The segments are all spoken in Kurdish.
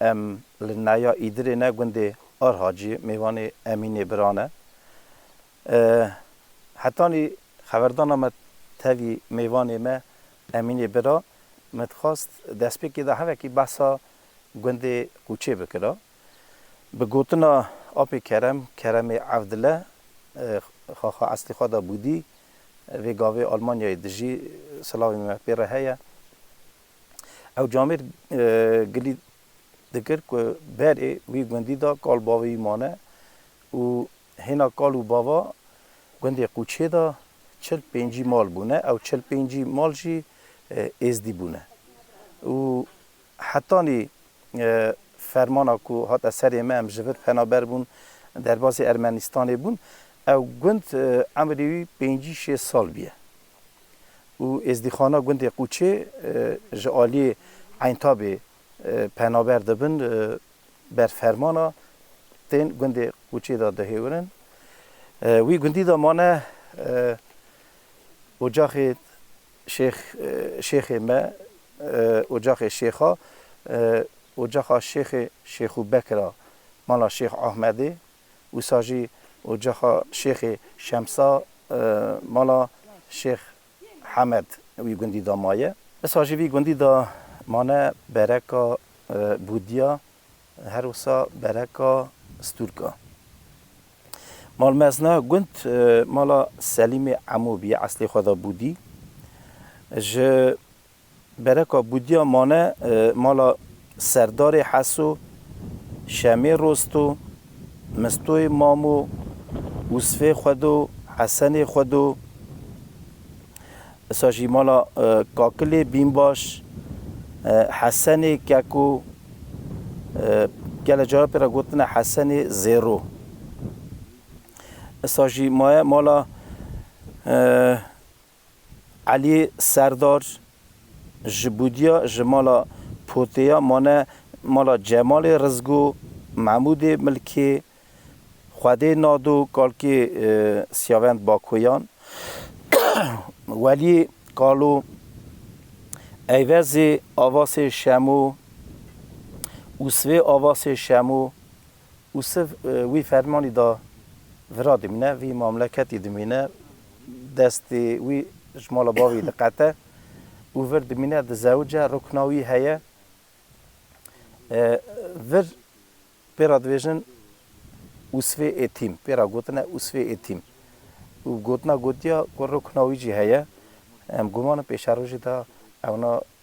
Em li Naya Îdirê ne gundê Ar Hacî mêvanê Emînê bira ne. Hetanî xeberdana me tevî mêvanê me Emînê bira me dixwast destpêkê de hevekî behsa gundê Qûçê bikira. Bi gotina Apê Kerem, Keremê Evdile xaxa eslî xwe da Bûdî vê gavê Almanyayê dijî silavê me pê re heye. Ew camêr gilî dikir ku berê wî gundî de kal bavê wî mane û hêna kal û bava gundê Qûçê de çil pêncî mal bûne. Ew çil pêncî mal jî êzdî bûne û hetanî fermana ku hate serê me em ji vir penaber bûn derbasî Ermenîstanê bûn. Ew gund emrê wî pêncî şêst sal bûye. û êzdîxana gundê Qûçê ji aliyê Eyntabê penaber dibin ber fermana tên gundê Qûçê de dihêwirin. Wî gundî de mane ocaxê şêx şêxê me ocaxê şêxa ocaxa şêxê Şêxû Bekir a mala Şêx Ahmedê. wisa jî ocaxa Şêxê Şemsa mala Şêx Hemed wî gundî de maye. Wisa jî vî gundî de mane bereka Bûdya her wisa bereka Stûrka. Mal mezna gund mala Selîmê Emû bîye eslê xwe de Bûdî ji Bereka Bûdya mane mala Serdarê Heso, Şemê Rosto, Mistoyê Mamo, Usfê Xwedo, Hesenê Xwedo, disa jî mala Kakilê Bînbaş, Hesenê Keko, gele cara pê re gotine Hesenê Zêro. Disa jî maye mala. Elî Serdar, Ji Bûdya ji mala Poteya mane mala Cemalê Rizgo, Mehmûdê Milkê, Xwedê Nado, Kalkê Siyavend Bakoyan, Welî Kalo, Eyvezê Avasê Şemo, Usvê Avasê Şemo, Û siv wî fermanî da vira dimîne, vî mamleketî dimîne, destê wî ji mala bavî diqete û vir dimîne, dizewice, rukna wî heye. Vir pê re dibêjin Usvê Êtîm, pê re gotine Usvê Êtîm. Û gotina gotiya ku rukna wî jî heye. Em guman in pêşerojê de ewna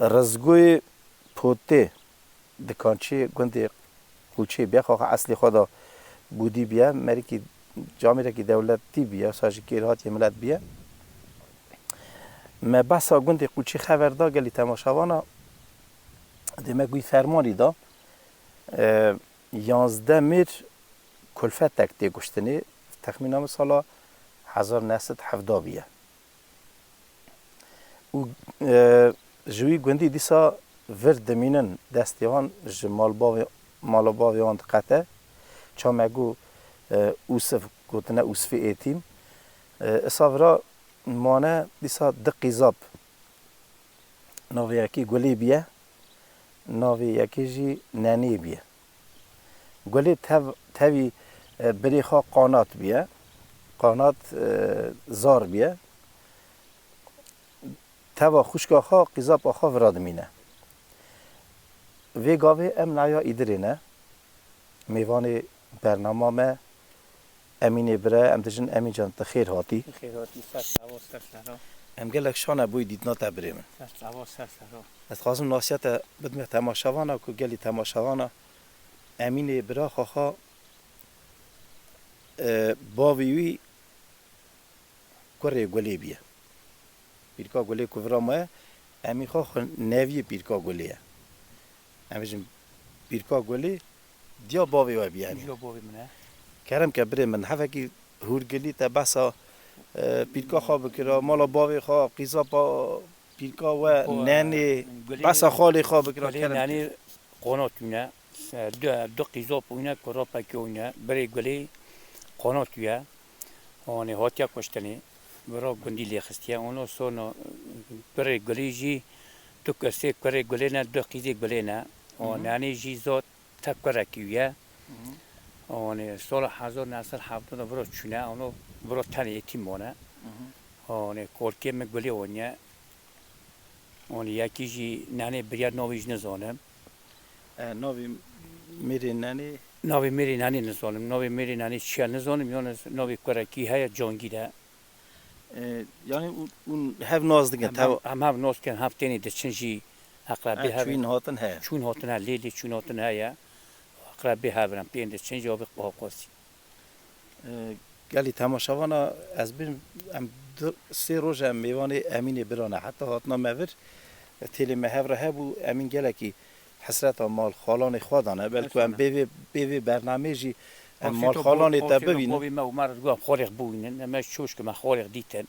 Rizgoyê Potê di kançeyê gundê Qûçê bûye. Xwe xwe eslê xwe de Bûdî bûye. Merikî camêrekî dewletî bûye, wisa jî kêrhatiyê milet bûye. Me behsa gundê Qûçê xever da gelî temaşevana. Dê me wî fermanî da. Yanzdeh mêr kulfetek tê kuştinê. Texmîna min sala hezar û neh sed û hevdeh bûye. û ji wî gundî dîsa vir dimînin, destê wan ji mala bavê wan diqete, çamek got Usif gotine Usfî êtîm, isa vira mane dîsa di qîzab, navê yekî Gulê bîye, navê yekê jî Nenê bîye. Gulê tev tevî birê xwe qanat bûye, qanat zar bûye. Teva xwişka xwe Qîzap Axa vira dimîne. Vê gavê em naya Îdirê ne. Mêvanê bernama me Emînê bire em dijin Emîn can ti xêr hatî. Ti xêr hatî ser sava ser sera. Em gelek şane boy dîdna te birê min. Ser sava ser sera. Ez dixwazim nasiya te bidme temaşevana ku gelî temaşevana Emînê bira xwe xwe bavê wî kurê Gulê bîye. Pîrka Gulê ku vira maye Emîn xwe xwe neviyê Pîrka Gulê ye. Em bêjin Pîrka Gulî diya bavê we bî enê. Diya bavê min e. Kerem ke birê min hefekî Hûrgilî te behsa Pîrka xwe bikira, mala bavê xwe, qîzapa Pîrka we, nenê, behsa xalê xwe bikira Kerem ke. Gulê nenê qonat wîne, du qîzap wîne ku rapekê wîne. Birê Gulî qonat wîye. Onê hatiye kuştinê. Bi ra gundî lê xistiye. Ono sono pirê gulî jî du ke sê kurê gulê ne, du qîzê gulê ne. O nenê jî zot te kurekî wî ye. Onê sola hezar new sed hevdeh de viro çûne. Ono viro tenê yetîm mane. Onê kolkê min gulê oniye. Onê yekî jî nenê birîya navê jî nizanim. Navê Mêrê Nenê. Navê Mêrê Nenê nizanim. Navê Mêrê Nenê çi ye nizanim yan ez navê kurekî heye Cangîr e. Yanî hûn hev nas dikin teva? Em hev nas dikin hev tenê diçin jî eqrebê hev in. Çûyîn hatin heye. Çûyîn hatin heye lê lê çûyîn hatin heye û eqrebê hev in. Em pê yên diçin jî avê Qahqazî. Gelê temaşavana ez bin em du sê roj em mêvanê Emînê Biran e. Heta hatina me vir têlê me hev re hebû. Emîn gelekî hesreta mal xalanê xwe dane. Belku em bê vê bê vê bernameyê jî em mal xalanê te bibînin. Bavê me û me re diguha xalê xwe bûyînin. Em ji çoşkê me xalê xwe dîtin.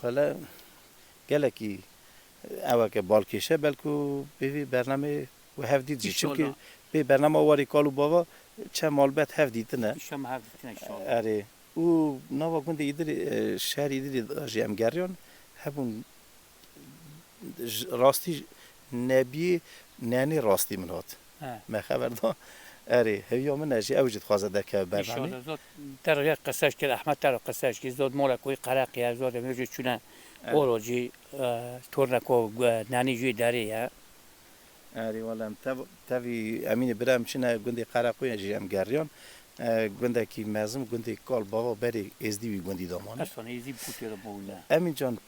Wele gelekî eweke balkêşe belku bê vê bername we hev dît jî çimkî bê bernama warê kal û bava çend malbet hev dîtine. Înşama hev dîtine înşala. Erê û nava gundê Îdirê şerê Îdirê de jî em geriyan hebûn Rastî nebî nenê rastî min hat. Me xeber da erê hêviya min e jî ew jî dixwaze derkeve berdanê. Îşallah zot te re qiseş kir Ehmed te re qiseş kir zot mola ku yê qereqî ye zot em jî çûne oro jî torna ku nenî jî derê ye. Erê wele em tev tevî Emînê bira em çûne gundê qereqoyê jî em geriyan gundekî mezin gundê kal bava berê êzdî wî gundî de mane. Efsane êzdî bi ku têra bûne. Emîn can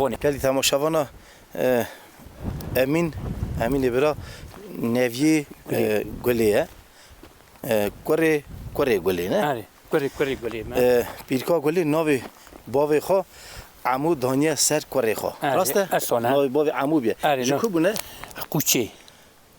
Xoni. Gelî temaşevana Emîn, Emînê bira neviyê Gulê ye. Kurê kurê Gulê ne? Erê, kurê kurê Gulê me. Pîrka Gulê navê bavê xwe Emû daniye ser kurê xwe. Rast e? Navê bavê Emû bûye. Ji ku bûne? Qûçê.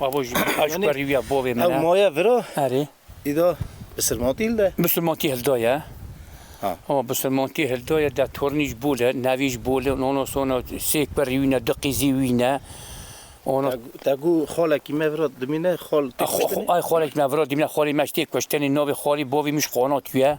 Abo jî aşk berî wî ya bavê min e. Ew maya vir a? Erê. Îda bisirmantî hil de? Bisirmantî hil da ye. Ha. Ha bisirmantî hil da ye de tornî ji bol e, nevî ji bol e û ona sona sêk berî wî ne, du qîzî wî ne. Ona Te gû xalekî me vir a dimîne, xal tê kuştinê? Ay xalekî me vir a dimîne, xalê me ji tê kuştinê navê xalî bavê min ji Qanatû ye.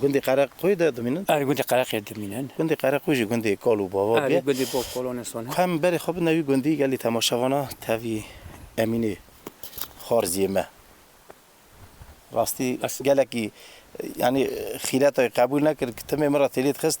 Gundê Qereqoyê de dimînin? Erê, gundê Qereqê de dimînin. Gundê Qereqoyê jî gundê kal û bava bûye. Erê, gundê bav kal û nesan e. Ku em berê xwe bidine wî gundî, gelê temaşevan e, tevî Emînê Xwarziyê me. Rastî gelekî yanî xîretayê qebûl nekir ku timê min re têlê dixist